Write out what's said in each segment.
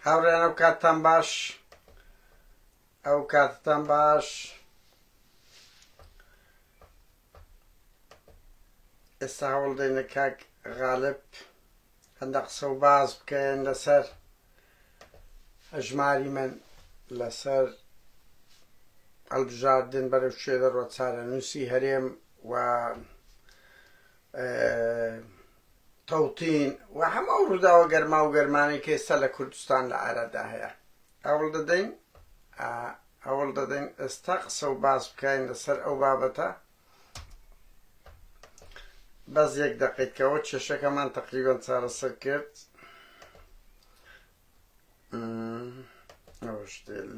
هاوڕێیان ئەو کاتتان باش ئەو کاتتان باش ئێستا هەوڵدەینە کاک غالب هەندە قسە و باس بکەن لەسەر هەژماری من لەسەر هەڵبژاردن بەرەو شوێ دەڕۆ چارەنووسی هەرێم و تەوتین و هەمە ئەو ڕووداوە گەرما و گەرمانەی کە ئێستا لە کوردستان لە ئارادا هەیە ئەوڵ دەدەین ئەوڵ دەدەین ئێستا قسە و باس بکەین لەسەر ئەو بابەتە بەس یەک دەقەی کەەوە کێشەکەمان تقریبان چارەسەر کرد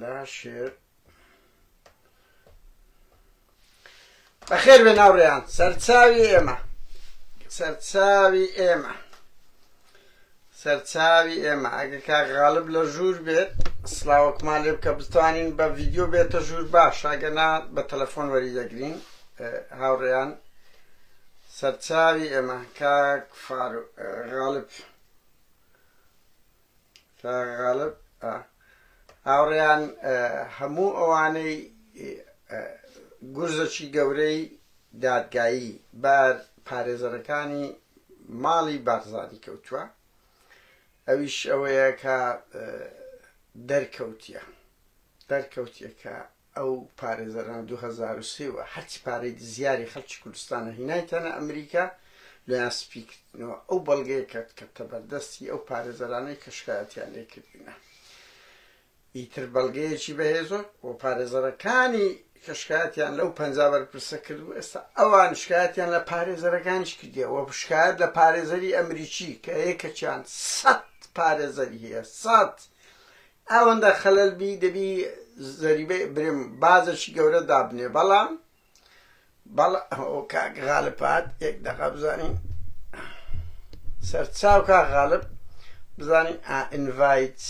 لا شێر بەخێر بێ ناوڕێیان سەرچاوی ئێمە سەرچاوی ئێمە سەرچاوی ئێمە ئەگەر کاک غالب لە ژوور بێت سڵاوەکمان لێ بکە بتوانین بە ڤیدیۆ بێتە ژوور باش ئەگەنا بە تەلەفۆن وەری دەگرین هاوڕێیان سەرچاوی ئێمە کاک فاروق غالب غالب هاوڕێیان هەموو ئەوانەی گورزەکی گەورەی دادگایی بەر پارێزەرەکانی ماڵی بارزانی کەوتووە ئەویش ئەوەیە کە دەرکەوتیە دەرکەوتیە کە ئەو پارێزەرانە دوو هەزار و سێ وە هەرچی پارەی دزیاری خەڵکی کوردستانە هینایتانە ئەمریکا لۆیان سپی کردنەوە ئەو بەڵگەیە کەت کەتە بەردەستی ئەو پارێزەرانەی کە شکایەتیان لێ کردینە ئیتر بەڵگەیەکی بەهێزۆ و پارێزەرەکانی کە شکایەتیان لەو پەنج بەرپرسە کرد و ئێستا ئەوان شکایەتیان لە پارێزەرەکانیش کردیە وە شکایەت لە پارێزەری ئەمریکی کە یەکەچیان سەد پارێزەری هەیە سەد ئەوەندە خەلەل بی دەبی زەریبە برێم بازەکی گەورە دابنێ بەڵام بەڵ کاک غالبات یەک دەقە بزانین سەرچاو کا غالب بزانین ئینڤایت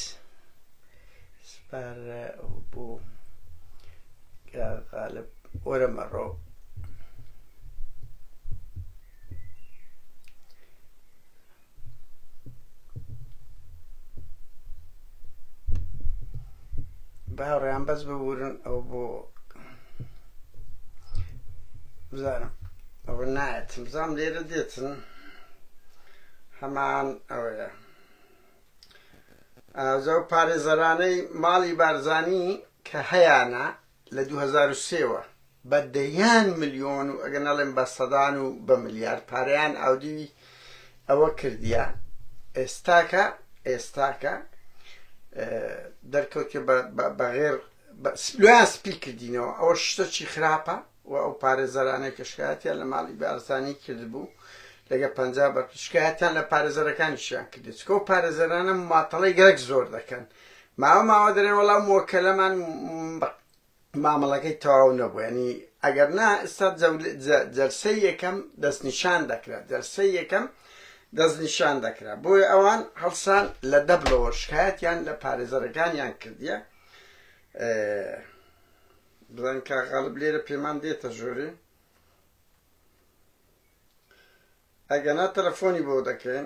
سپار بوو غالب وەرە مەڕۆ باوڕیان بەس ببورن ئەو بۆ بزانم ئەوە نایەتم بزانم لێرە دێتن هەمان ئەوەیە ئازە و پارێزەرانەی ماڵی بارزانی کە هەیانە لە دوو هەزار و سێ وە بە دەیان ملیۆن و ئەگەر نەڵێم بە سەدان و بە ملیارد پارەیان ئاودیوی ئەوە کردیە ئێستاکە ئێستاکە دەرکەوتێ بە غێر لۆیان سپی کردینەوە ئەوە شتە چی خراپە و ئەو پارێزەرانەی کە شکایەتیان لە ماڵی بارزانانی کردبوو لەگە پ بە شکایەتیان لە پارێزەرەکانیشیان کردێت چکە و پارێزەرانە ماتەڵی گەرەک زۆر دەکەن ماوە ماوە دەرێن وەڵا مۆکەلەمان مامەڵەکەی تەواو نەبوو ینی ئەگەر نا ئستا جەرسەی یەکەم دەستنیشان دەکرا جەرسەی یەکەم دەستنیشان دەکرا بۆیە ئەوان هەڵسان لە دەبلەوە شکایەتیان لە پارێزەرەکانیان کردیە بزان کا غەڵب لێرە پێمان دێتە ژۆری ئەگەنا تەلەفۆنی بۆ دەکەین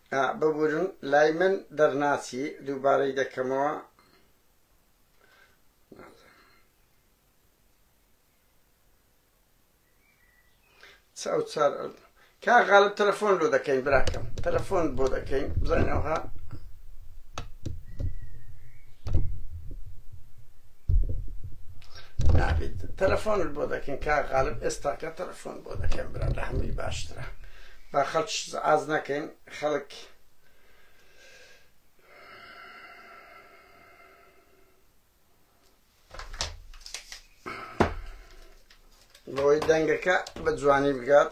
ئا ببورن لای من دەرناچی دووبارەی دەکەمەوە ئەو چار کا غالب تەلەفۆن لۆ دەکەین براکەم تەلەفۆن بۆ دەکەین بزانەوەها نابێت تەلەفۆنت بۆ دەکەین کا غالب ئێستاکە تەلەفۆن بۆ دەکەن برا لە هەمووی باشترە با خەڵکیش زعاز نەکەین خەڵک بۆی دەنگەکە بە جوانی بگات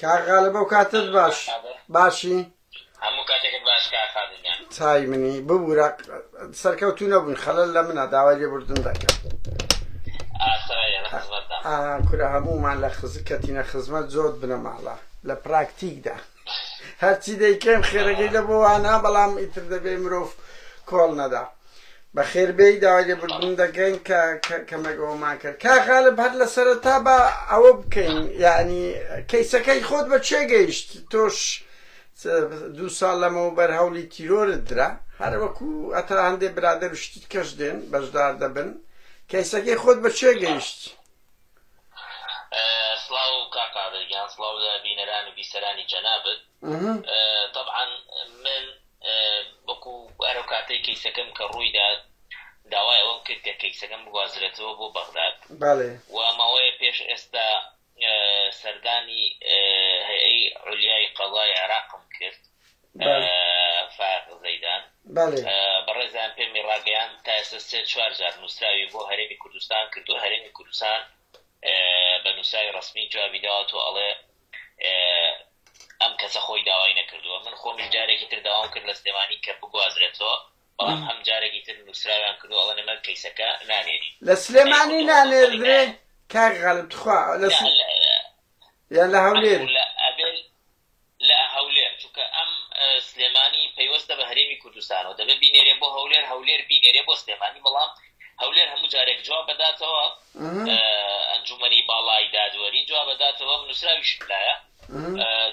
کاک غالە بەو کاتت باش باشی هەموو کاتێکت باش کاک خادم گیان چای منی ببوورە سەرکەوتوو نەبوون خەلەل لە منە داوای لێبوردن دەکەم ئاسایە لە خزمەتدا ئا کورە هەموومان لە خز کەتینە خزمەت زۆت بنەماڵە لە پراکتیکدا هەرچی دەیکەین خێرەکەی لە بۆوانە بەڵام ئیتر دەبێ مرۆڤ کۆڵ نەدا بەخێر بێی داوای لێبوردن دەکەین کە کەمێک ئەومان کرد کا غالب هەر لە سەرەتا بە ئەوە بکەین یعنی کەیسەکەی خۆت بە چێ گەیشت تۆش دوو ساڵ لەمەوە بەر هەوڵی تیرۆرت درا هەر وەکو ئەتا هەندێ برادەر و شتیت کەش دێن بەشدار دەبن کەیسەکەی خۆت بە چێ گەیشت سڵاو و کاقادرگیان سڵاو لە بینەران و بیسەرانی جەنابەت طبعا من وەکو ئەرەو کاتەی کەیسەکەم کە ڕوویدا داوای ئەوەم کرد کە کەیسەکەم بگوازرێتەوە بۆ بەغداد و ماوەیە پێش ئێستا سەردانی هەیئەی عولیای قەزای عێراقم کرد فاق زەیدان بەڕێزان پێمی ڕاگەیان تا ئێستا سێ چوار جار نووسراوی بۆ هەرێمی کوردستان کردو هەرێمی کوردستان بە نووسراوی ڕسمی جوابی داوە تۆ ئەڵێ ئەم کەسە خۆی داوای نەکردووە من خۆمیش جارێکی تر داوام کرد لە سلێمانی کە بگوازرێتەوە بەڵام ئەم جارێکی تر نووسراویان کردو ئەڵە نەمە کەیسەکە نانێری لە سلێمانی نانێردرێ کار غالب تخوا لە یان لە هەولێر لە هەولێر چونکە ئەم سلێمانی پەیوەستە بە هەرێمی کوردستانەوە دەبێت بینێرێ بۆ هەولێر هەولێر بینێرێ بۆ سلێمانی بەڵام هەولێر هەموو جارێک جواب بداتەوە ئەنجومەنی باڵای دادوەری جواب بداتەوە نووسراویشم لایە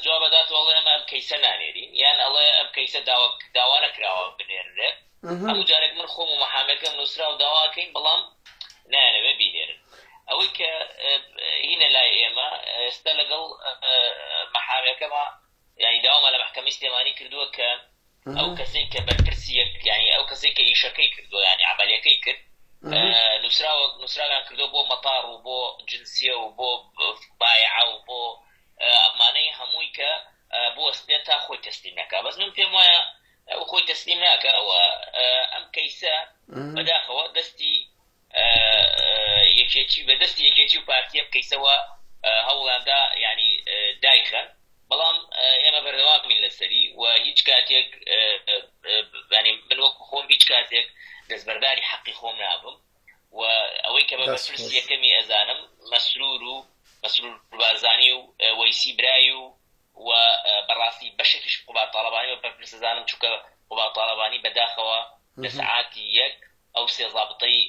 جواب بدات وڵێ ئەمە ئەم کەیسە نانێرین یان ئەڵێ ئەم کەیسە داوانە کراوە بنێرێت هەموو جارێک من خۆم و محامەکەم نووسرا و داواکەین بەڵام نایەنەوێ بینێرن ئەوەی کە هینە لای ئێمە ئێستا لەگەڵ محامەکەمە یانی داوامان لە مەحکەمەی سلێمانی کردووە کە ئەو کەسەی کە بەرپرسی یەک یانی ئەو کەسەی کە ئیشەکەی کردووە یانی عملیەکەی کرد نووسراوە نووسراویان کردو بۆ مەتاڕ و بۆ جنسیە و بۆ بایع و بۆ ئەمانەی هەمووی کە بوەستێت تا خۆی تەسلیم نەکە بەس من پێم وایە ئەو خۆی تەسلیم ناکە ئەوە ئەم کەیسە بەداخەوە دەستی یەکێتی بە دەستی یەکێتی و پارتیە بکەیسەوە هەوڵاندا یانی دایخەن بەڵام ئێمە بەردەوامین لەسەری و هیچ کاتێک بەنی من وەکو خۆم هیچ کاتێک دەستبەرداری حەقی خۆم نابم و ئەوەی کە بە بەپرسی یەکەمی ئەزانم مەسرور و مەسرور بارزانانی و وەیسی برای و و بەڕاستی بەشێکیش قوبا تاالبانی و بەرپرسەزانم چووکە قوبا تاالبانی بەداخەوە لە سعاتی یەک ئەو سێ زابتەی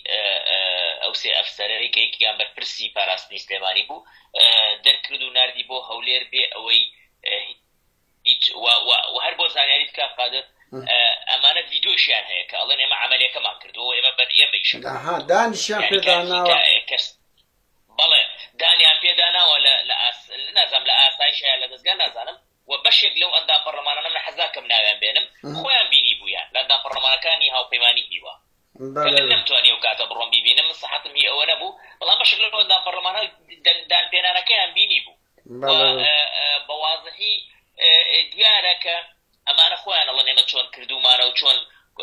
ئەو سێ ئەفسەرەی کە یەکێکیان بەرپرسی پاراستنی سلێمانی بوو دەرکرد و ناردی بۆ هەولێر بێ ئەوەی هیچ و هەر بۆ زانیاریت کا قادر ئەمانە ڤیدۆشیان هەیە کە ئەڵێن ئێمە عملەکەمان کردەوە ئێمە بەر ئێمە ئیشەکەها دانیشیان پێداناوە بەڵێ دانیان پێداناوە لە نازانم لە ئاسایشە لە دەستگا نازانم و بەشێک لەو ئەندام پەڕلەمانانە من حەز ناکەم ناویان بێنم خۆیان بینیبوویان لە ئەندام پەڕلەمانەکانی هاوپەیمانی هیوا کە من نەمتوانی ئەو کاتە بڕۆم بیبینم من سەحەتم هی ئەوە نەبوو بەڵام بەشێک لەو ئەندام پەڕلەمانە دەنگ دانپێنانەکەیان بینیبوو بە وازحی دیارە کە ئەمانە خۆیان ئەڵێن ئێمە چۆن کردومانە و چۆن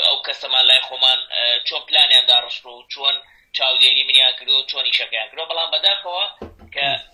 ئەو کەسەمان لای خۆمان چۆن پلانیان داڕشت و چۆن چاودێری منیان کردو و چۆن ئیشەکەیان کردوە بەڵام بەداخەوە کە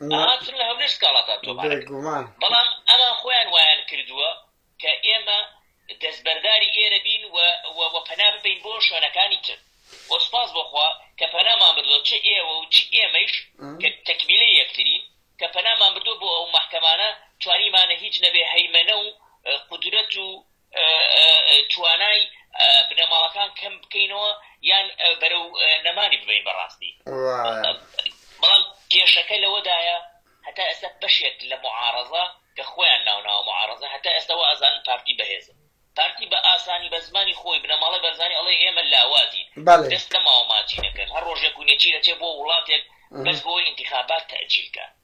هاتن لە هەولێر سکاڵاتان تۆمار کرد، بەڵام ئەمان خۆیان وایان کردووە کە ئێمە دەستبەرداری ئێرە بین و پەنا ببەین بۆ شوێنەکانی تر و سوپاس بۆ خوا کە پەنامان بردووە، چ ئێوە و چ ئێمەیش کە تەکمیلەی یەکترین کە پەنامان بردووە بۆ ئەو مەحکەمانە، توانیمانە هیچ نەبێ هەیمەنە و قودرەت و توانای بنەماڵەکان کەم بکەینەوە یان بەرەو نەمانی ببین بەڕاستی بەڵام کێشەکە لەوەدایە هەتا ئێستا بەشێک لە معارەزە کە خۆیان ناوناوە معارەزە هەتا ئێستاەوە ئازان پارتی بەهێزە پارتی بە ئاسانی بە زمانی خۆی بنەماڵی بەرزانانی ئەڵێ ئێمە لاوازی دەست لە ماوە ماچینەکەن هەر ڕۆژێک و نێچی دەچێت بۆ وڵاتێک بەس بۆ ئینتخابات تەجیلکە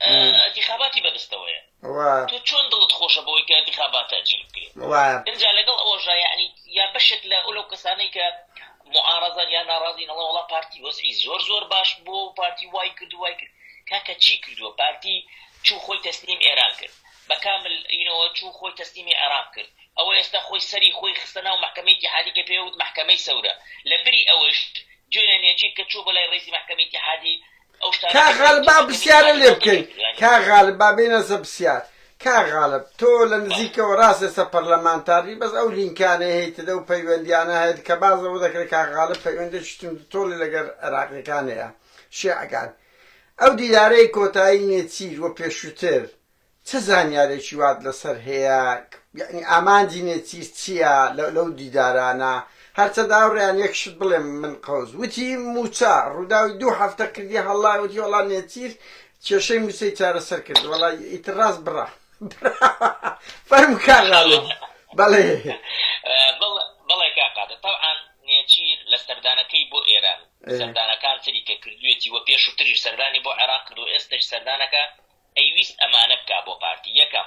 ئەنتیخاباتی بەدەستەوەیە تۆ چۆن دڵت خۆشە بۆی کە ئەنتیخابات تەجیل بکرێت ئەجا لەگەڵ ئەوەژە یعنی یا بەشێک لە ئەو لەو کەسانەی کە معارەزان یا ناڕازی نەڵە وڵا پارتی وەزعی زۆر زۆر باش بۆ پارتی وای کرد وای کرد کاکە چی کردووە پارتی چوو خۆی تەسلیم ئێران کرد بە کامل ئینەوە چوو خۆی تەسلیمی عێراق کرد ئەوە ئێستا خۆی سەری خۆی خستە ناو محکمەیەکی حادیکە پێوت محکمەی سەورە لە بری ئەوەش جوێنێکی کە چوو بەلای ڕێزی محکمەیەکی حادی کاک غالب با پرسیارە لێ بکەین کاک غالب با بێنە سە پرسیار کاک غالب تۆ لە نزیکەوە ڕاستە سە پەرلەمانتارنی بەس ئەو لینکانەی هەیتدە و پەیوەندیانە هەیت کە باز لەوە دەکرێت کاک غالب پەیوەندێکی تون تۆڵی لەگەر عێراقیەکان هەیە شێعەکان ئەو دیدارەی کۆتایی نێچیر و پێشووتر چ زانیارێکی وات لەسەر هەیە؟ یەعنی ئامانجی نێچیر چیە لە لەو دیدارانە؟ هەرچەندە ئەوڕیان یەک شت بڵێم من قەوز وتی موچە ڕوداوی دوو هەفتە کردی هەڵڵا وتی وەڵا نێچیر کێشەی موچەی چارەسەر کرد وەڵا ئیتر ڕاست بڕا براوە فەرمو کاک غالب بەڵێ بەڵێ کاک قادر تەوعان نێچیر لە سەردانەکەی بۆ ئێران سەردانەکان تری کە کردوێتی وە پێشوتریش سەردانی بۆ عێراق کردوە ئێستەش سەردانەکە ئەیویست ئەمانە بکا بۆ پارتی یەکەم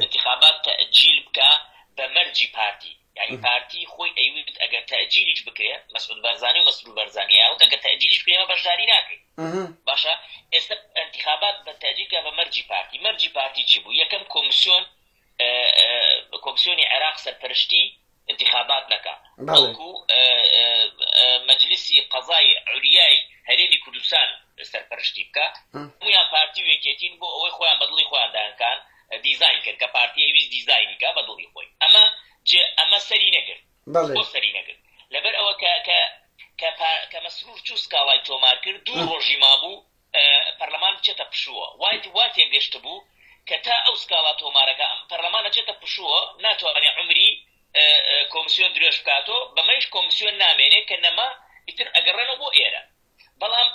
ئینتخابات تەئجیل بکا بە مەرجی پارتی یانی پارتی خۆی ئەیویست ئەگەر تەئجیلیش بکرێ مەسعود بەرزانی و مەسرور بەرزانی ئەیانوت ئەگەر تەئجیلیش بکرێ ئێمە بەشداری ناکەین باشە ئێستا ئینتخابات بە تەئجیل بکا بە مەرجی پارتی مەرجی پارتی چی بوو یەکەم کۆمسیۆن کۆمسیۆنی عێراق سەرپەرشتی ئینتیخابات نەکا بەڵکو مەجلیسی قەزای عوریای هەرێمی کوردستان سەرپەرشتی بکە مویان پارتی و یەکێتین بۆ ئەوەی خۆیان بەدڵی خۆیان دایانکان دیزین کرد کە پارتی ئەویست دیزینی کا بەدڵی خۆی ئەمە جێ ئەمە سەری نەگرت بۆ سەری نەگرت لەبەر ئەوە کە کە کە مەسرور چوو سکاڵای تۆمار کرد دوو ڕۆژی مابوو پەرلەمان بچێتە پشووە، وایت وا تێگەشتبوو کە تا ئەو سکاڵا تۆمارەکە ئەم پەرلەمان ئەچێتە پشووە ناتوانێ عومری کۆمسیۆن درێژ بکاتۆ بەمەیش کۆمسیۆن نامێنێ کە نەما ئیتر ئەگەڕێنەوە بۆ ئێرە بەڵام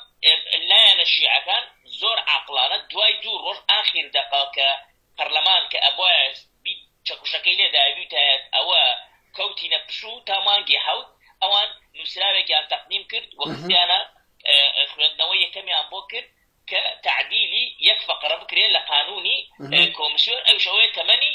لایەنە شیعەکان زۆر عاقڵانە دوای دوو ڕۆژ ئاخیر دەقە کە پەرلەمان کە ئەبوایە بیت چەکوشەکەی لێدایە بیوتایەت ئەوە کەوتینە پشوو تا مانگی حەوت ئەوان نووسراوێکیان تەقدیم کرد و خستیانە خوێندنەوە یەکەمیان بۆ کرد کە تعدیلی یەک فقرە بکرێت لە قانونی کۆمسیۆن ئەو شەوەیە تەمەنی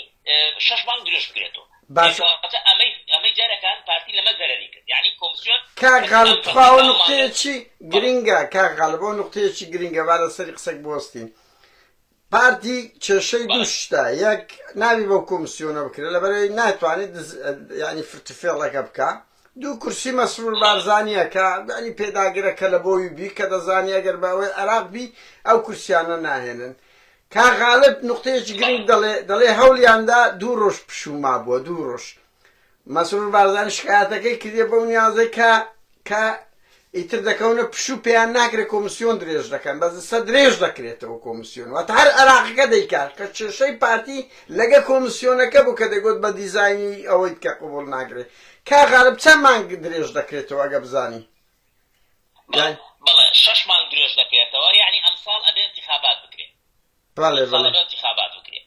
شش مانگ درێژ بکرێتەوە باش کەواتە ئەمەی ئەمەی جارەکان پارتی لەمە زەرەری کرد یعنی کۆمسیۆن کاک غالب تخوا ئەو نقطەیەکی گرنگە کاک غالب ئەو نقطەیەکی گرنگە با لەسەری قسەک بوەستین پارتی کێشەی دوو شتە یەک ناوی بەو کۆمسیۆنە بکرێت لەبەرەوەی ناتوانێت ینی فرتفێڵەکە بکە دوو کورسی مەسرور بارزانانیە کە ینی پێداگرە کە لە بۆوی بی کە دەزانانی ئەگەر بە ئەوەی عراق بی ئەو کورسیانە ناهێنن کاغالب نقطەیەکی گرنگ دەڵێ دەڵێ هەولیاندا دوو ڕۆژ پشوما بووە دوو ڕۆژ مەسرور بارزانی شکایەتەکەی کردیە بەو نیازەی کە کە ئیتر دەکەونە پشوو پێیان ناکرێت کۆمسیۆن درێژ دەکەن بە جسە درێژ دەکرێتەوە کۆمسیۆن واتە هەر عراقەکە دەیکات کە کێشەی پارتی لەگە کۆمسیۆنەکە بوو کە دەگوت بە دیزایانی ئەوەی کە قوبول ناگرێت کا غالب چەند مانگ درێژ دەکرێتەوە ئەگە بزانی بەڵێ شش مانگ درێژ دەکرێتەوە یعنی ئەمساڵ ئەبێ انتخابات بکرێت بەڵێ بەڵێ انتخابات بکرێت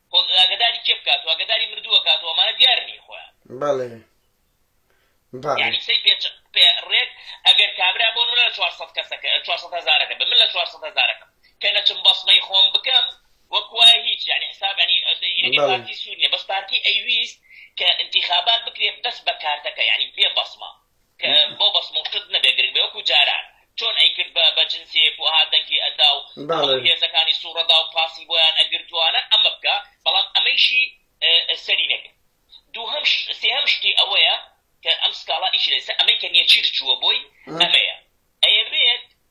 خۆ ئاگەداری کێ بکات و ئاگەداری مردووە کات و ئەمانە دیار نی خۆیان. بەڵێ بەڵێ. یانی سەی پێ چە پێ ڕێک ئەگەر کابرا بۆ نمونە لە چوار سەد کەسەکە چوار سەد هەزارەکە بێ من لە چوار سەد هەزارەکەم کە نەچم بەسمەی خۆم بکەم وەک وایە هیچ یانی حساب یانی ئەدە ئینەگەر بەڵێ. پارتی سوور نیە بەس پارتی ئەیویست کە ئینتیخابات بکرێ بەس بە کارتەکە یانی بێ بەسمە کە بۆ بەس موڵکت نەبێ گرنگ بێ وەکو جاران چۆن ئەیکرد بە بە جنسێک و ئەها دەنگی ئەدا و هەموو هێزەکانی سووڕەدا و پاسی بۆیان ئەگرت توانە ئەمە بکا بەڵام ئەمەیشی سەری نەگرت دووهەم سێهەم شتی ئەوەیە کە ئەم سکاڵا ئیش لەسە ئەمەی کە نێچیر چووە بۆی ئەمەیە ئەیەوێت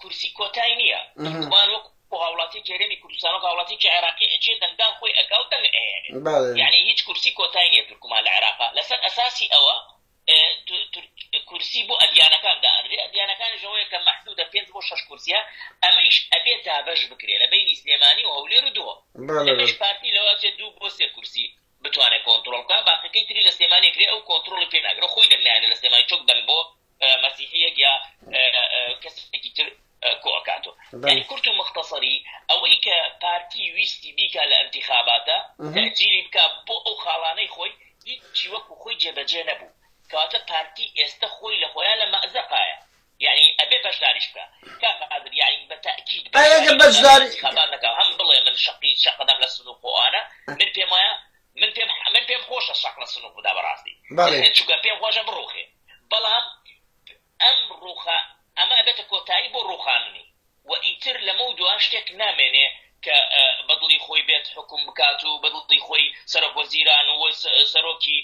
کورسی کۆتای نیە تورکمان وەک بۆ هاوڵاتیکی هەرێمی کوردستان و هاوڵاتیکی عێراقی ئەچێ دەنگدان خۆی ئەکا و دەنگ ئەهێنێ بەڵێ یعنی هیچ کورسی کۆتای نیە تورکمان لە عێراقا لەسەر ئەساسی ئەوە ئێ، تو- تورک- کورسی بۆ ئەدیانەکان دائەنرێ ئەدیانەکانیش ئەوەیە کە مەحدودە پێنج بۆ شەش کورسیە ئەمەیش ئەبێ دابەش بکرێ لە بەینی سلێمانی و هەولێر و دهۆک بەڵێ بەڵێ ئەمەش پارتی لەوە ئەچێ دوو بۆ سێ کورسی بتوانێت کۆنترۆڵ بکات باقیەکەی تری لە سلێمانی ئەکرێت ئەو کۆنترۆڵی پێ ناکرێت خۆی دەنگ نایەنێت لە سلێمانی چۆک دەنگ بۆ مەسیحیەک یا کەسێکی تر کۆ ئەکاتۆ یعنی کورت و مختصری ئەوەی کە پارتی ویستی بیکا لە ئەنتیخاباتە تەجیلی بکە بۆ ئەو خاڵانەی خۆی هیچی وەکو خۆی جێبەجێ نەبوو کاتە پارتی ئێستا خۆی لە خۆیان لە مەزەقایە یەعنی ئەبێ بەشداریش بکا کاک قادر یەعنی بە تەئکید ئەی ئەگەر بەشداری ئینتخابات نەکا هەم بڵێ من شەقی شەق ئەدەم لە سنوق و ئەوانە من پێم وایە من پێم من پێم خۆشە شەق لە سنوق بدا بەڕاستی بەڵێ چونکە پێم خۆشە بڕوخێ بەڵام ئەم ڕوخا ئەمە ئەبێتە کۆتایی بۆ ڕوخاندنی و ئیتر لەمەو دوا شتێک نامێنێ کە بە دڵی خۆی بێت حوکم بکات و بە دڵی خۆی سەرۆک وەزیران و سەرۆکی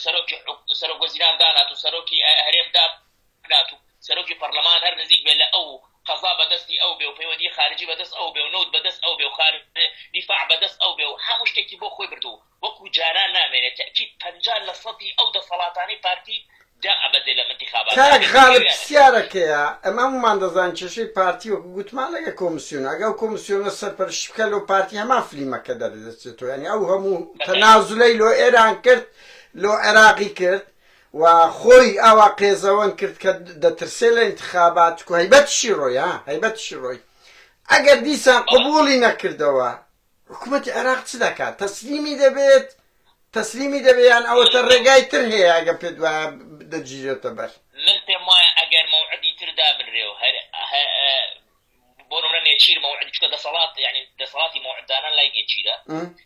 سەرۆکی سەرۆک وەزیران دانات و سەرۆکی هەرێم دابنات و سەرۆکی پەرلەمان هەر نزیک بێ لە ئەو قەزا بەدەستی ئەو بێ و پەیوەندی خارجی بەدەست ئەو بێ و نەوت بەدەست ئەو بێ و خار دیفاع بەدەست ئەو بێ و هەموو شتێکی بۆ خۆی بردوو وەکو جاران نامێنێ تەئکید پەنجا لە سەدی ئەو دەسەڵاتانەی پارتی دا ئەبەزێ لەم ئنتیخاباتە ئەگەر کاک غالب بکەوێ یانە نەکەوێ. پسیارەکەیە ئەمە هەموومان دەزانین کێشەی پارتی وەکو گوتمان ئەگەر کۆمسیۆنە ئەگەر ئەو کۆمسیۆنە سەرپەرشتی بکات لۆ پارتی هەمان فلیمەکە دەردەچێتەوە یانی ئەو هەموو بە تایبەت تەنازولەی لۆ ئێران کرد لۆ عێراقی کرد و خۆی ئاوا قێزەوەن کرد کە دەترسێ لە ئنتخابات چکو هەیبەتیشی ڕۆی ها هەیبەتیشی ڕۆی ئەگەر دیسان بەڵێ قبوڵی نەکردەوە حکومەتی عێراق چ دەکات؟ تەسلیمی دەبێت؟ تەسلیمی دەبێت یان ئەوەتە ڕێگای تر هەیە ئەگەر پێت وایە دەگیرێتە بەر؟ من پێم وایە ئەگەر مەوعدی تر دابنرێ و هەر بۆ نمونە نێچیر مەوعد چکە دەسەڵات یعنی دەسەڵاتی مەوعددانان لای نێچیرە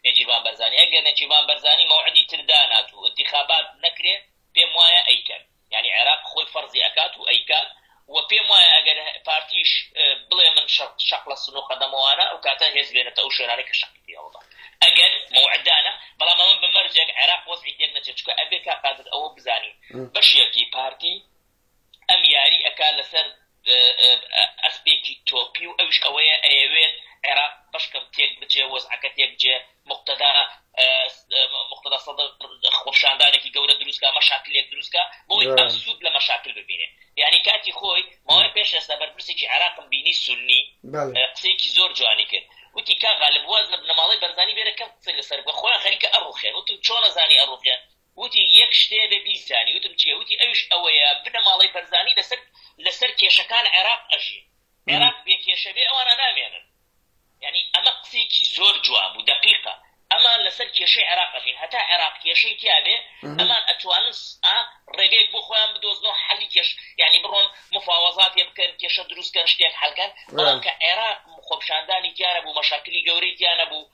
نێچیربان بەرزانی ئەگەر نێچیربان بەرزانی مەوعدی تر دانات و انتخابات نەکرێ پێم وایە ئەیکەن یانی عێراق خۆی فەرزی ئەکات و ئەیکات و پێم وایە ئەگەر پارتیش بڵێ من شەق لە سنوق ئەدەمەوانە ئەو کاتە هێز بێنێتە ئەو شوێنانەی کە شەقی پێ هەڵدا ئەگەر موعد دانا بەڵام ئەمە بە مەرجێک عێراق وەزعی تێک نەچێت چکە ئەبێ کا قادر ئەوە بزانین بەشێکی پارتی ئەم یاری ئەکا لەسەر ئەسپێکی تۆپی و ئەویش ئەوەیە ئەیەوێت عێراق بەشکەم تێک بچێ وەزعەکە تێک بجێ مقتەدا مقتەدا سەدر خۆپشاندانێکی گەورە دروستکە مەشاکلێک دروستکە بۆی ئەم سوود لە مەشاکل ببینێ یعنی کاتی خۆی ماوەی پێش ئێستا بەرپرسێکی عێراقم بینی سنی قسەیەکی زۆر جوانی کرد وتی کا غالب واز لە بنەماڵەی بەرزانی بێرە کەم قسەی لەسەر بە خۆیان خەریکە ئەڕوخێن وتم چۆنە زانی ئەڕوخێن وتی یەک شتێ بێ بیزانی وتم چیە وتی ئەوش ئەوەیە بنەماڵەی بەرزانی لەسەر لەسەر کێشەکان عێراق ئەژین عێراق بێ کێشە بێ ئەوانە نامێنن یعنی ئەمە قسێکی زۆر جواب و دقیقە ئەمان لەسەر کێشەی عێراقژین هەتا عێراق کێشەی تیاێ ئەمان ئەتوانن ڕێگەیەک بۆ خۆیان بدۆزنەوە حەلی کێش ینی بڕۆن مفاوەزاتێ بکەن کێشە دروستکەن شتێک حلکەن بەڵام کە عێراق خۆپشاندانی تیانە بوو مەشاکلی گەورەی تیانە بوو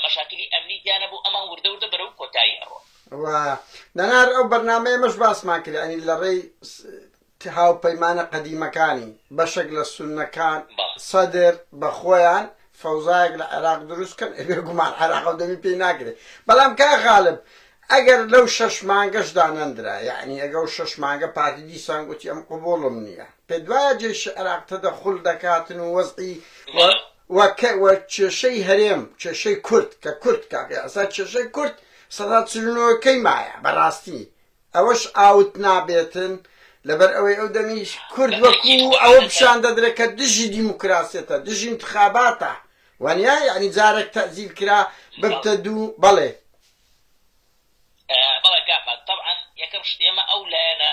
مەشاکلی ئەمنی تیا نەبوو ئەمان وردە وردە بەرەو کۆتایی ئەڕۆن. و نەنار ئەو بەرنامەیەمەش باسمان کرد ئەنی لە ڕێی هاوپەیمانە قەدیمەکانی بەشێک لە سوننەکان سەدر بە خۆیان فەوزایەک لە عێراق دروست کەن ئەبێ گومان عێراق و دەمی پێی ناگرێت بەڵام کا غالب ئەگەر لەو شەش مانگەشدا نەندرا یعنی ئەگە و شەش مانگە پارتی دیسان گوتی ئەم قوبوڵم نییە پێ دوایە جێشی عراق تەدەخل دەکاتن و وەزعی و و کێشەی هەرێم کێشەی کورد کە کورد کاکە ئەسا کێشەی کورد سەدا چل و نۆ کەی مایە بەڕاستی ئەوەش ئاوت نابێتن لەبەر ئەوەی ئەو دەمیش کورد وەکو ئەوە پیشان دەدرێت کە دژی دیموکراسیەتە دژی انتخاباتە وانیا یعنی جارێک تەزیل کرا ببتە دوو بەڵێ بەڵێ کاکە طبعا یەکەم شت ئێمە ئەو لایەنە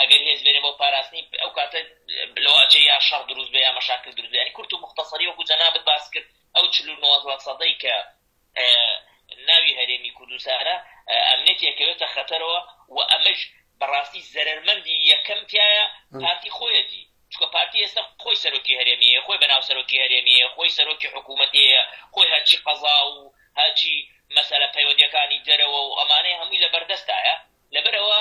ئەگەر هێز بێنێ بۆ پاراستنی ئەو کاتە لەوە ئەچێ یا شەڕ دروست بێ یا مەشاکل دروست بێ یانی کورت و موختەسەری وەکو جەنابت باس کرد ئەو چل و نۆ سەدەی کە ناوی هەرێمی کوردستانە ئەمنێت یەکەوێتە خەتەرەوە و ئەمەش بەڕاستی زەرمەندی یەکەم تایە پارتی خۆیەتی چکە پارتی ئێستا خۆی سەرۆکی هەرێمیە خۆی بەناو سەرۆکی هەرێمیە خۆی سەرۆکی حکوومەتەیە خۆی هەرچی قەزا و هەچی مەسەرە پەیوەندەکانی دەرەوە و ئەمانەی هەمووی لە بەردەستایە لەبەرەوە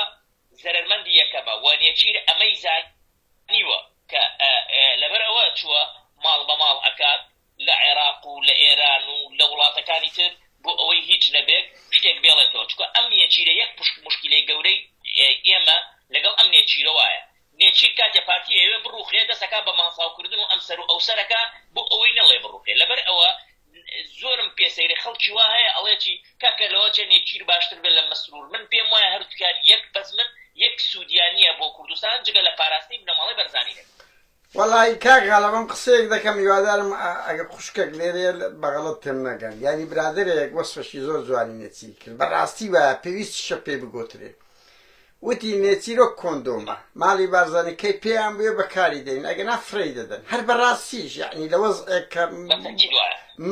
زەرەرمەندی یەکەمە و نێچیر ئەمەی زانیوە کە لەبەر ئەوە چووە ماڵ بە ماڵ ئەکات لە عێراق و لە ئێران و لە وڵاتەکانی تر بۆ ئەوەی هیچ نەبێت شتێک بێڵێتەوە چونکە ئەم نێچیرە یەک پشک موشکیلەی گەورەی ئێمە لەگەڵ ئەم نێچیرە وایە نێچیر کاتێ پارتی ئەیەوێ بڕوخێ دەست ئەکا بە ماڵفاو کردن و ئەمسەر و ئەوسەر ئەکا بۆ ئەوەی نەڵێ بڕوخێ لەبەر ئەوە زۆرم پێ سەیرە خەڵکی وا هەیە ئەڵێ چی کاکە لەوە چێ نێچیر باشتر بێ لە مەسرور من پێم وایە هەردووکیان یەک بەزمن یەک سوودیان نییە بۆ کوردستان جگە لە پاراستنی بنەماڵەی بەرزانی نەبێ وەڵای کاک غەڵە بەم قسەیەک دەکەم هیوادارم ئەگەر خوشکەک لێرێ بەغەڵەت تێم نەگەن یانی برادەرێک وەسفەشی زۆر جوانی نێچیر کرد بەڕاستی وایە پێویستیشە پێی بگۆترێ وتی نێچیرۆک کۆندۆمە ماڵی بارزانی کەی پێیان بوێ بەکاری دێن ئەگەنا فرێی دەدەن هەر بەڕاستیش یەعنی لە وەزعێک کە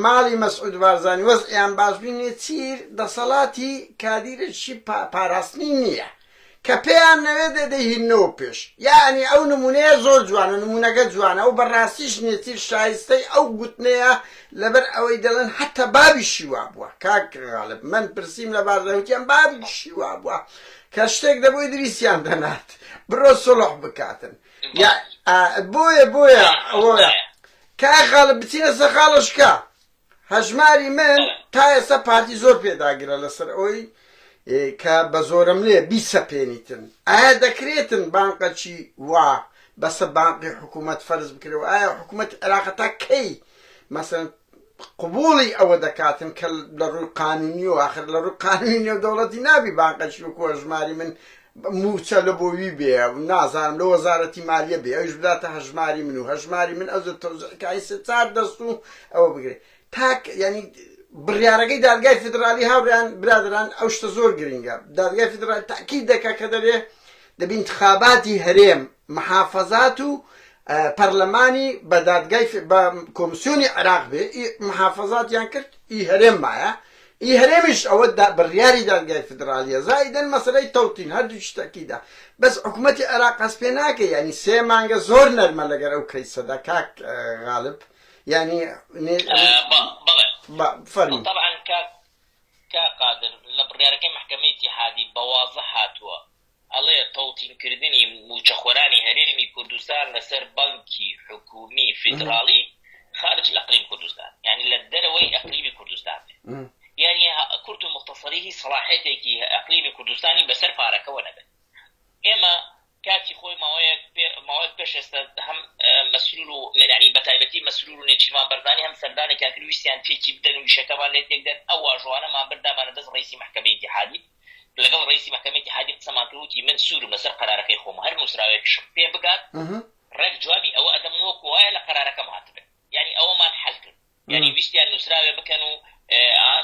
ماڵی مەسعود بارزانی وەزعیان باش بی نێچیر دەسەڵاتی کادیرێکی پاراستنی نییە کە پێیان نەوێ دەدەهینەوە پێش یعنی ئەو نمونەیە زۆر جوانە نمونونەگە جوانە ئەو بەڕاستیش نێتیر شایستەی ئەو گوتنەیە لەبەر ئەوەی دەڵێن حتا بابی شیوا بووە کاکغالب من پرسییم لە بارزەوتیان بابی شیوا بووە کە شتێک دەبووی دریسیان دەنات بڕۆ سوڵح بکاتن یا بۆیە بۆیە ئەوەیە کای خاڵە بچینە سە خاڵشکە هەژماری من تا ئێستا پارتی زۆر پێداگرە لەسەر ئەوی کە بە زۆرم لێ بیسەپێنیتن ئایا دەکرێتن بانقەچی وا بەسە بانقی حکوومەت فەرز بکرەوە ئایا حکوومەت عێراقەتا کەی مەسن قبوڵی ئەوە دەکاتن کە لە ڕووی قانونی و ئاخر لە ڕووی قانونی نێودەوڵەتی نابی بانقەشی و کۆژماری من مووچە لە بۆ وی بێ نازانم لە وەزارەتی مالیە بێ ئەوش بداتە هەژماری من و هەژماری من ئەو تەوزعکای سێ چار دەست و ئەوە بگرێت تاک ینی بڕیارەکەی دادگای فیدراالی هاوڕیان برادران ئەو شتە زۆر گرنگە دادگای فیدراال تاکی دەکە کە دەرێ دەبی انتخاباتی هەرێم، محافەزات و پەرلەمانی بە دادگای بە کۆمسیۆنی عێراق بێ، ئی محافەزاتیان کرد ئی هەرێم مایە، ئی هەرێمیش ئەوە دا بڕیاری دادگای فیدرالیە، زائیدەن مەسەلەی تەوتین هەردووکیش تەئکیدە، بەس حکومەتی عێراق هەست پێ ناکەی یانی سێ مانگە زۆر نەرمە لەگەر ئەو کەیسە دا کاک غالب یانی بە فەرموو. تەبعەن کاک قادر لە بڕیارەکەی مەحکەمەی ئیتیحادی بە وازح هاتووە ئەڵێ تەوتین کردنی مووچەخۆرانی هەرێمی کوردستان لەسەر بانکی حکوومی فیدراڵی خارج الاقلیم کوردستان یعنی لە دەرەوەی ئەقلیمی کوردستان یعنی کورت و مختصری هی سەڵاحێتێکی ئەقلیمی کوردستانی بەسەر پارەکەەوە نەبێت ئێمە کاتی خۆی ماوەیەک ماوەیەک پێش ئێستا هەم مەسرور و مێرانی بەتایبەتی مەسرور و نێچیمان بەردانی هەم سەردانێکیان کرویسیان تێکی بدەن و ویشەکەمان لێ تێکدەن ئەو واژوانەمان بردامانە دەست ڕیسی محکمە اتحادی لەگەڵ ڕئیسی مەحکەمەی ئیتیحادی قسەمان کرد وتی من سوورم لەسەر قەرارەکەی خۆم هەر نووسراوێکیشم پێ بگات ڕێک جوابی ئەوە ئەدەم وەکو وایە لە قەرارەکەم هاتبێت یعنی ئەوەمان حەل کرد یعنی ویستیان نووسراوێ بکەن و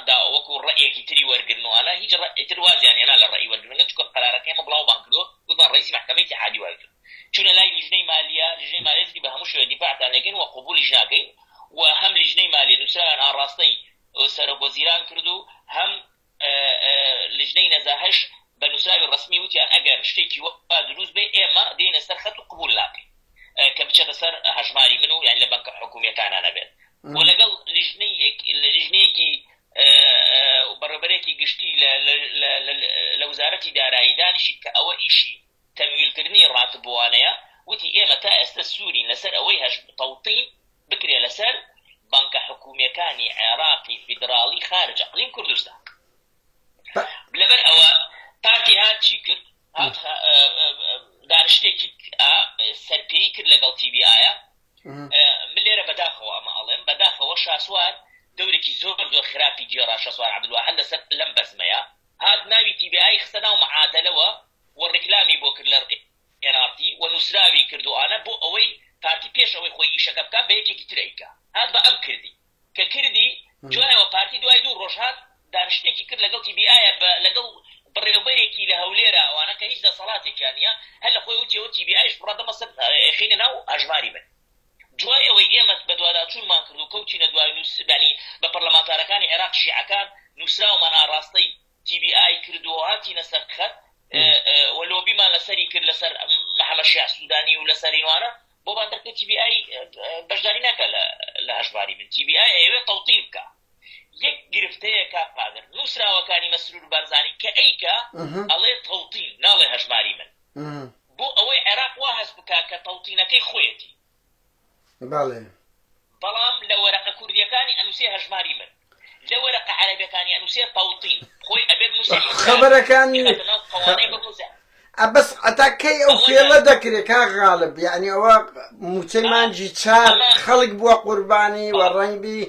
دا وەکو ڕێیەکی تری وەرگن و ئانا هیچ ڕئیتر وازیان هێنا لە ڕێی وەرگرنگە چکە قەرارەکەی مە بڵاوبان کردو وتمان ڕئیسی مەحکەمەی ئیتیحادی وای کرد چونە لای لیژنەی مالیە لیژنەی مالیەتی بە هەموو شوێ دیفاعتان لەگەین و قبولیش ناکەین و هەم لیژنەی مالیە نووسراویان ئاڕاستەی سەرۆک وەزیران کردو هەم لیژنەی نەزاهەش بە نوسراوی ڕەسمی وتیان ئەگەر شتێکی وا دروست بێ ئێمە دێینە سەر خەت و قبول ناکەین کە بچێتە سەر هەژماری من و یان لە بەنکە حکومیەکانە نەبێت و لەگەڵ لیژنەیەکی بەڕێبەرێکی گشتی لە وزارەتی دارایی دانیشی کە ئەوە ئیشی تەمویلکردنی راتبوانەیە وتی ئێمە تا ئێستە سوورین لەسەر ئەوەی هەشبە تەوتین بکرێ لەسەر بەنکە حکومیەکانی عێراقی فیدراڵی خارج اقلیم کوردستان لەبەر ئەوە پارتی هات چی کرد هات دانشتێکی سەرپێی کرد لەگەڵ تیبی ئایا من لێرە بەداخەوە ئەمە ئەڵێم بەداخەوە شاسوار دورێکی زۆر زۆر خراپی گێڕا شەسوار عبدالواحد لەسەر لەم بەزمەیە هات ناوی تیبیایی خستە ناو معادلەوە و ڕیکلامی بۆ کرد لە nrt و نوسراوی کرد و ئانە بۆ ئەوەی پارتی پێش ئەوەی خۆی ئیشەکە بکات بە یەکێکی تر ئەیکا هات بە ئەم کردی کە کردی دوایەوە پارتی دوای دوو ڕۆژ هات دانشتێکی کرد لەگەڵ تیبی ئایە بە لەگەڵ بڕێوبەرێکی لە هەولێرا ئەوانە کە هیچ دەسەڵاتێکیان نیە هەر لە خۆی وتیەوە تیبی ئایش بڕە دەمە سەر ئەخینە ناو هەژماری بن دوای ئەوەی ئێمە بە دواداچوونمان کرد و کەوتینە دوای نووسبانی بە پەرلەمانتارەکانی عێراق شیعەکان نووسراومان ئاڕاستەی تی بی ئای کردووە و هاتینە سەر خەت و لۆبیمان لەسەری کرد لەسەر محەمەد شیاع سوودانی و لەسەر ئینوانە بۆمان دەرکرد تی بی ئای بەشداری ناکا لە هەژماری بن تی بی ئای ئەیەوێ تەوتین بکا یەک گرفتەیە کاک قادر نووسراوەکانی مەسرور بارزانی کە ئەیکا ئەڵێ تەوتین ناڵێ هەژماری من بۆ ئەوەی عێراق وا هەست بکا کە تەوتینەکەی خۆیەتی بەڵێ. بەڵام لە وەرەقە کوردیەکانی ئەنوسێ هەژماری من لە وەرەقە عەرەبیەکانی ئەنوسێ تەوتین خۆی ئەبێت نوسەری خۆی خەبەرەکان بیخاتە ناو قەوانەی بڕوزە. ئە بەس عەتا کەی ئەو ئەوەنە. فێڵە دەکرێ کاک غاڵب یانی ئەوە موچەی ئا مانجی چار ئەمە خەڵک بوە قوربانی و بەڵێ ڕەنگ بی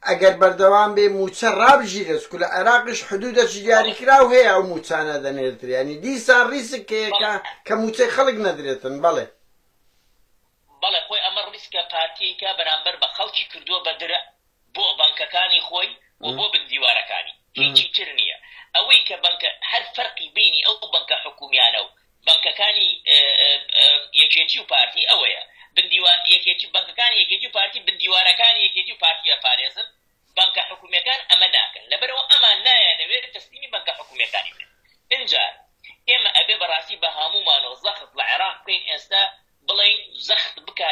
ئەگەر بەردەوام بێ موچە ڕابژیرێ چکو لە عێراقیش حدودەکی بەڵێ دیاریکراو هەیە ئەو موچانە دەنێردرێ یانی دیسان ڕیسک هەیە بەڵێ کە کە موچەی خەڵک نەدرێتن بەڵێ. بەڵێ خۆی ئەمە ڕیسکە پارتیەیکە بەرامبەر بە خەڵکی کردووە بە درە بۆ بەنکەکانی خۆی و بۆ بن دیوارەکانی هیچی تر نییە ئەوەی کە بەنکە هەر فەرقی بینی ئەو بەنکە حکومیانە و بەنکەکانی یەکێتی و پارتی ئەوەیە بندیوار یەکێتی بەنکەکانی یەکێتی و پارتی بندیوارەکانی یەکێتی و پارتی ئەپارێزن بانکە حکومیەکان ئەمە ناکەن لەبەرئەوە ئەمان نایانەوێت تەسلیمی بانکە حکومیەکانی بن ئینجا ئێمە ئەبێ بەڕاستی بەهامومانەوە زەخت لە عێراق بکەین ئێستا بڵێین زەخت بکە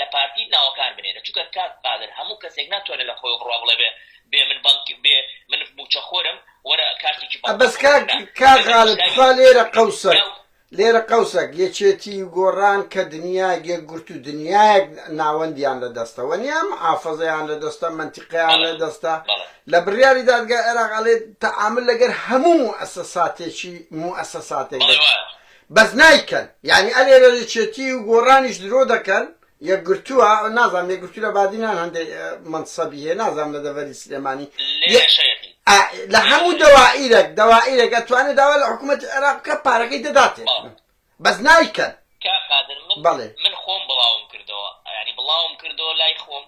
لە پارتی ناوەکان بنێرە چونکە کاک قادر هەموو کەسێک ناتوانێت لە خۆی بڕوا بڵێ بێ بێ من بانک بێ من موچەخۆرم وەرە کارتێکی بەس کاک کاغالب تخوا لێرە قەوسە لێرە قەوسەک، یەکێتی و گۆڕان کە دنیایەک یەکگرتوو و دنیایەک ناوەندیان لە دەستە وە نیە، محافزەیان لە دەستە، مەنتیقیان لە دەستە، لە بڕیاری دادگای عێراق ئەڵێت تەعامول لەگەر هەموو موئەسەساتێکی موئەسەساتێک دەکەن بەس نایکەن، یانی ئەلێرە یەکێتی و گۆڕانیش درۆ دەکەن، یەکگرتووە نازانم یەکگرتوو لە بادینان هەندێک مەنسەبی هەیە نازانم لە دەڤەری سلێمانی لە هەموو دەوائیرەک دەوائیرەک ئەتوانێت داوا لە حکوومەتی عێراق بکە پارەکەی دەداتێ بەس نایکەن بەڵێ من خۆم بڵاوم کردەوە ینی بڵاوم کردەوە لای خۆم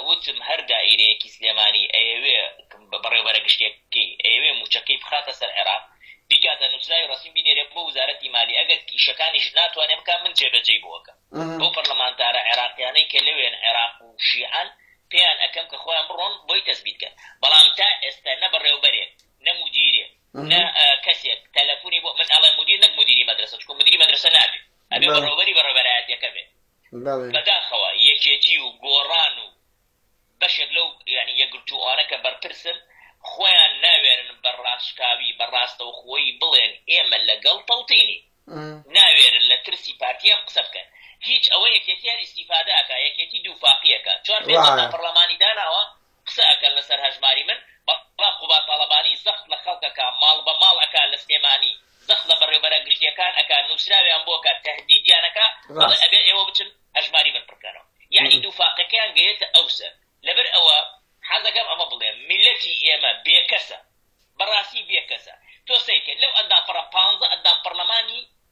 وتم هەر دائیرەیەکی سلێمانی ئەیەوێ بەڕێوبەرە گشتیەکەی ئەیەوێ موچەکەی بخاتە سەر عێراق بیکاتە نوسراوی ڕەسمی بینێرێ بۆ وزارەتی مالی ئەگەر کیشەکانیش ناتوانێ بکە من جێبەجێی بۆکە بۆ پەرلەمانتارە عێراقیانەی کە لەوێن عێراق و شیعەن پێیان ئەکەم کە خۆیان بڕۆن بۆی تەسبیتکەن بەڵام تا ئێستا نە بەڕێوبەرێک نە مدیرێ نە کەسێک تەلەفۆنی بۆ من ئەڵێ مدیر نەک مدیری مەدرسە چکۆ مدیری مەدرسە نابێ ئەبێ بەڕێوبەری بەڕێبەرایەتەکە بێت بەداخەوە یەکێتی و گۆڕان و بەشێک لەو یانی یەکگرتووانە کە بەرپرسن خۆیان ناوێرن بە ڕاشکاوی بە ڕاستەوخۆیی بڵێن ئێمە لەگەڵ تەوتینین ناوێرن لە ترسی پارتی ئەم قسە بکەن هیچ ئەوە یەکێتی هەر ئیستیفادە ئەکا یەکێتی دووفاقی ئەکا چوار پێنج جار ناپەڕلەمانی داناوە قسە ئەکەن لەسەر هەژماری من بەڵام قوباد تاڵەبانی زەخت لە خەڵک ئەکا ماڵ بە ماڵ ئەکا لە سلێمانی زەخت لە بەڕێوبەرە گشتیەکان ئەکا نوسراویان بۆ ئەکا تەهدیدیان ئەکا ئەڵێ ئەبێ ئێوە بچن هەژماری من پڕکەنەوە یەعنی دووفاقەکەیان گەیەتە ئەو سەر لەبەر ئەوە حەزەکەم ئەمە بڵێم میلەتی ئێمە بێکەسە بەڕاستی بێکەسە تۆ سەیکە لەو ئەندامپڕە پانزە ئەندام پەڕلەمانی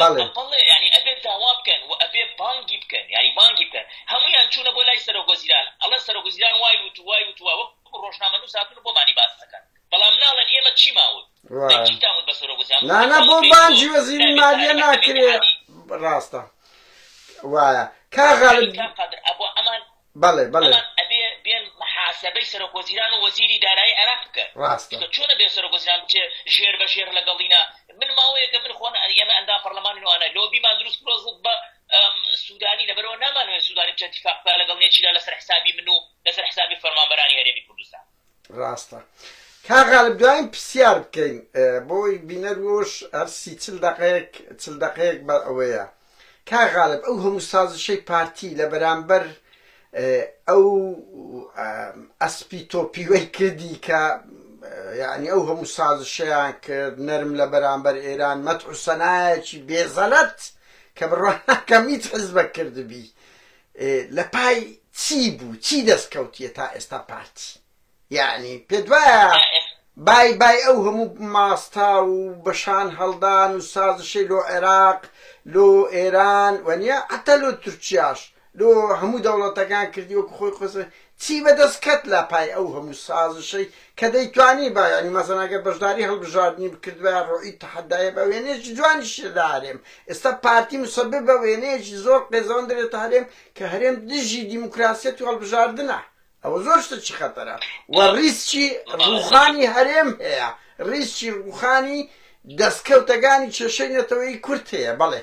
بەڵێ. بەڵێ یانی ئەبێ داوا بکەن و ئەبێ بانگی بکەن یانی بانگی بکەن هەموویان چوونە بۆ لای سەرۆک وەزیران ئەڵێن سەرۆک وەزیران وای وت و وای وت و وەکو ڕۆژنامەنووس هاتوون و بۆمانی باس ئەکەن بەڵام ناڵێن ئێمە چیمان وت ڕا چیتان وت بە سەرۆک وەزیران نا نا بۆ بانگی وەزیری مالیە ناکرێ ڕاستە وایە کاغا کاک قادر ئەبوو ئەمان بەڵێ بەڵێ بەڵام ئەبێ بێن محاسەبەی سەرۆک وەزیران و وەزیری دارایی عێراق بکەن ڕاستە چونکە چۆن ئەبێ سەرۆک وەزیران بچێ ژێر بە ژێر لەگەڵینا من ماوەیەکە من خۆ ئێمە ئەندام پەرلەمانین و ئەنا لۆبیمان دروست کرۆ زد بە ئەم، سوودانی لەبەرەوە نامانەوێت سوودانی بچێت اتفاق بکات لەگەڵ نێچیرا لەسەر حسابی من و لەسەر حسابی فەرمانبەرانی هەرێمی کوردستان ڕاستە کاک غالب دواین پرسیار بکەین بۆ بینەر وش هەر سی چل دەقەیەک چل دەقەیەک بە ئەوەیە کاک غالب ئەو هەموو سازشەی پارتی لە بەرامبەر ئەو ئەسپی تۆپیوەی کردی کە یعنی ئەو هەموو سازشیان کرد نەرم لە بەرامبەر ئێران مەتحوسەنایەکی بێزەلەت کە بڕواناکەم هیچ حزبە کردبی لە پای چی بوو چی دەست کەوتیە تا ئێستا پارتی یانی پێت وایە بای بای ئەو هەموو ماستە و بەشان هەڵدان و سازشەی لۆ عێراق لۆ ئێران وەنیە حتا لۆ تورکیاش لۆ هەموو دەوڵەتەکان کردی وەکو خۆی قسە چی بەدەست کەت لە پای ئەو هەموو سازشەی کە دەیتوانی با یانی مەسەن ئەگەر بەشداری هەڵبژاردنی بکردبایە ڕۆیی تەحەدایە بە وێنەیەکی جوانی شێ لە هەرێم ئێستا پارتی مسەبب بە وێنەیەکی زۆر قێزەوەن دەرێتە هەرێم کە هەرێم دژی دیموکراسیەت و هەڵبژاردنە ئەوە زۆر شتەکی خەتەرە و ڕیسکی ڕوخانی هەرێم هەیە ڕیسکی ڕوخانی دەستکەوتەگانی کێشەی نەتەوەی کورد هەیە بەڵێ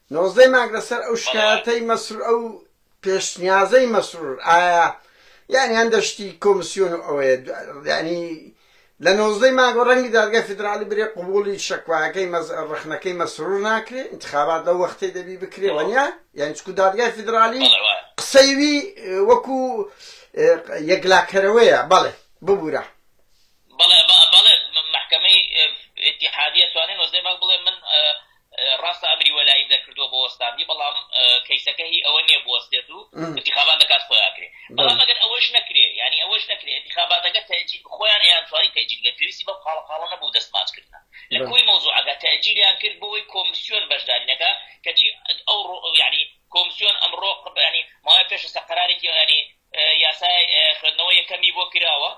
نۆزدە مانگ لەسەر ئەو شکایەتەی مەسرور ئەو پێشنیازەی مەسرور ئایا یانی هەندە شتی کۆمسیۆن و ئەوەیە یانی لە نۆزدە مانگەوە ڕەنگی دادگای فیدراڵی برێ قبوڵی شەکوایەکەی مەز ڕەخنەکەی مەسرور ناکرێ ئینتخابات لەو وەختەی دەبی بکرێ وەنیا یانی چکو دادگای فیدراڵی قسەی وی وەکو یەکلاکەرەوەیە بەڵێ ببورە بەڵێ بەڵێ مەحکەمەی ئیتیحادیە توانی نۆزدە مانگ بڵێ من ڕاستە ئەمری وەلایی دەرکردووە بۆ وەستاندی بەڵام کەیسەکە هی ئەوە نییە بوەستێت و انتخابات لە کات خۆیان کرێ بەڵام ئەگەر ئەوەش نەکرێ یعنی ئەوەش نەکرێ انتخاباتەکە تەجی خۆیان یان توانی تەجیل گە پێویستی بە خاڵە خاڵە نەبوو دەستماچ کردن لە کۆی مەوزوعەکە تەجیلیان کرد بۆی کۆمسیۆن بەشدارینەکە کەچی ئەو ڕۆ یعنی کۆمسیۆن ئەمڕۆ قبیانی ماوەی پێشستا قرارێکی یعنی یاسای خوێندنەوە یەکەمی بۆ کراوە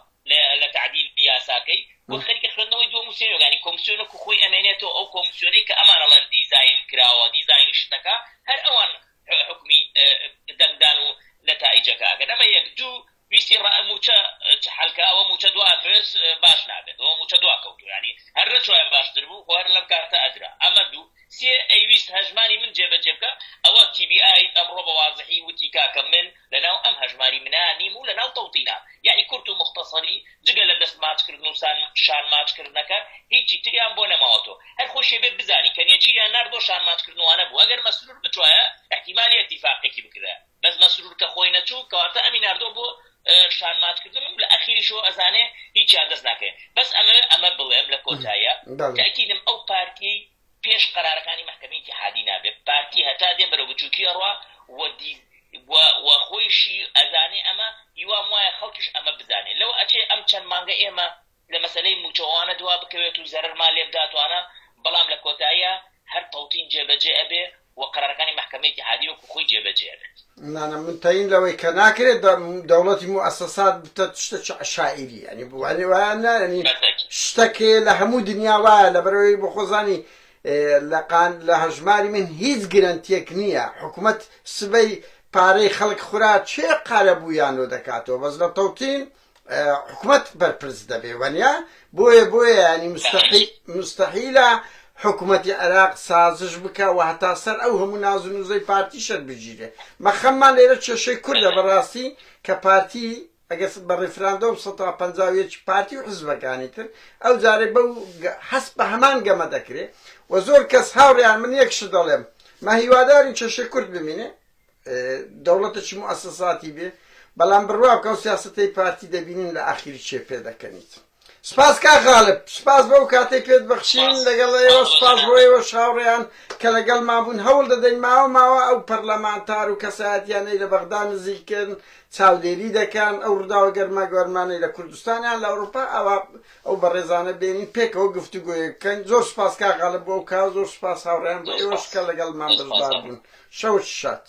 لە تەعدیلی یاساکەی وەک خەریکە خوێندنەوەی دووەم و سێیەم یەکە، یانی کۆمسیۆن وەکو خۆی ئەمێنێتەوە، ئەو کۆمسیۆنەی کە ئەمان ئەڵێن دیزاین کراوە، دیزاینی شتەکە، هەر ئەوان حوکمی دەنگدان و نەتائیجەکە ئەکەن، ئەمە یەک، دوو، ویستی ڕا مووچە چ حەلکە، ئەوە مووچە دوا ئەترێت باش نابێت، ئەوە مووچە دواکەوتووە، یانی هەر نەچوایە باشتر بوو، خۆ هەر لەم کاتە ئەدرا، ئەمە دوو. سێ ئەیویست هەژماری من جێبەجێ بکا ئەوە تی بی ئای ئەمڕۆ بە وازحی وتی کاکە من لە ناو ئەم هەژماری منا نیم و لە ناو تەوتینا یانی کورت و موختەسەری جگە لە دەست ماچ کردن و سان شان ماچ کردنەکە هیچی تریان بۆ نەماوەتۆ هەر خۆشی ئەبێ بزانی کە نێچیریان نارد بۆ شان ماچ کردنوانە بوو ئەگەر مەسرور بتوایە ئیحتیمالی ئەتیفاقێکی بکردایە بەس مەسرور کە خۆی نەچوو کەواتە ئەمی ناردوە بۆ شان ماچ کردن و لە ئەخیریشەوە ئەزانێ هیچیان دەست ناکەوێ بەس ئەمەوێ ئەمە بڵێم لە کۆتاییا تاکیدم ئەو پارتیەی پێش قەرارەکانی مەحکەمەی ئیتیحادی نابێ پارتی هەتا دێ بەرەو بچوکی ئەڕوا و دی و خۆیشی ئەزانێ ئەمە هیوام وایە خەڵکیش ئەمە بزانێ لەوە ئەچێ ئەم چەند مانگە ئێمە لە مەسەلەی موچەوە ئەوانە دوا بکەوێت و زەرەرمان لێ بدات و ئەوانە بەڵام لە کۆتاییا هەر تەوتین جێ بەجێ ئەبێ و قەرارەکانی مەحکەمەی ئیتیحادی وەکو خۆی جێ بەجێ ئەبێت. نانا من تەین لەوەی کە ناکرێت بە دەوڵەتی موئەسەسات بتەت شتەکی عەشائیری یانی بو یانی وایە نا یانی شتەک لە هەموو دنیا وایە لەبەرەوەی بۆ خۆزانی لە قان لە هەژماری من هیچ گرەنتیەک نییە حکومەت سبەی پارەی خەڵک خورا چێ قارەبوویانۆ دەکاتەوە بەس لە تەوتین حکومەت بەرپرس دەبێ وەنیا بۆیە بۆیە ینی مستحیلە حکوومەتی عێراق سازش بکە و هەتا سەر ئەو هەموو ناز و نوزەی پارتی شەر بگیرێ مەخەممان لێرە کێشەی کوردە بەڕاستی کە پارتی ئەگەر بە ڕیفراندۆم 150 پارتی و حزبەکانی تر ئەو جارێ بەو حەس بە هەمان گەمە دەکرێ و زۆر کەس هاوڕیان من یەکش دەڵێم مە هیوادارین کێشەی کورد بمینێ دەوڵەتە چ موئەسەساتی بێ بەڵام بڕوا بکە ئەو سیاسەتەی پارتی دەبینین لە ئاخیری چێ پێ دەکەنیت سپاس کا غالب سپاس بەو کاتەی پێت بەخشین لەگەڵ ئێوە سپاس بۆ ئێوە شاوڕێیان کە لەگەڵ مابوون هەوڵ دەدەین ماوە ماوە ئەو پەرلەمانتار و کەسایەتیانەی لە بەغدا نزیکن چاودێری دەکەن ئەو ڕووداوە گەرما گۆرمانەی لە کوردستانیان لە ئەوروپا ئەوە ئەو بەڕێزانە بێنین پێکەوە گفتوگۆیەک بکەین زۆر سپاس کاک عەلە بۆ ئەو کار زۆر سپاس هاوڕێیان بۆ ئێوەش کە لەگەڵمان بەشدار بوون شەوت شاد.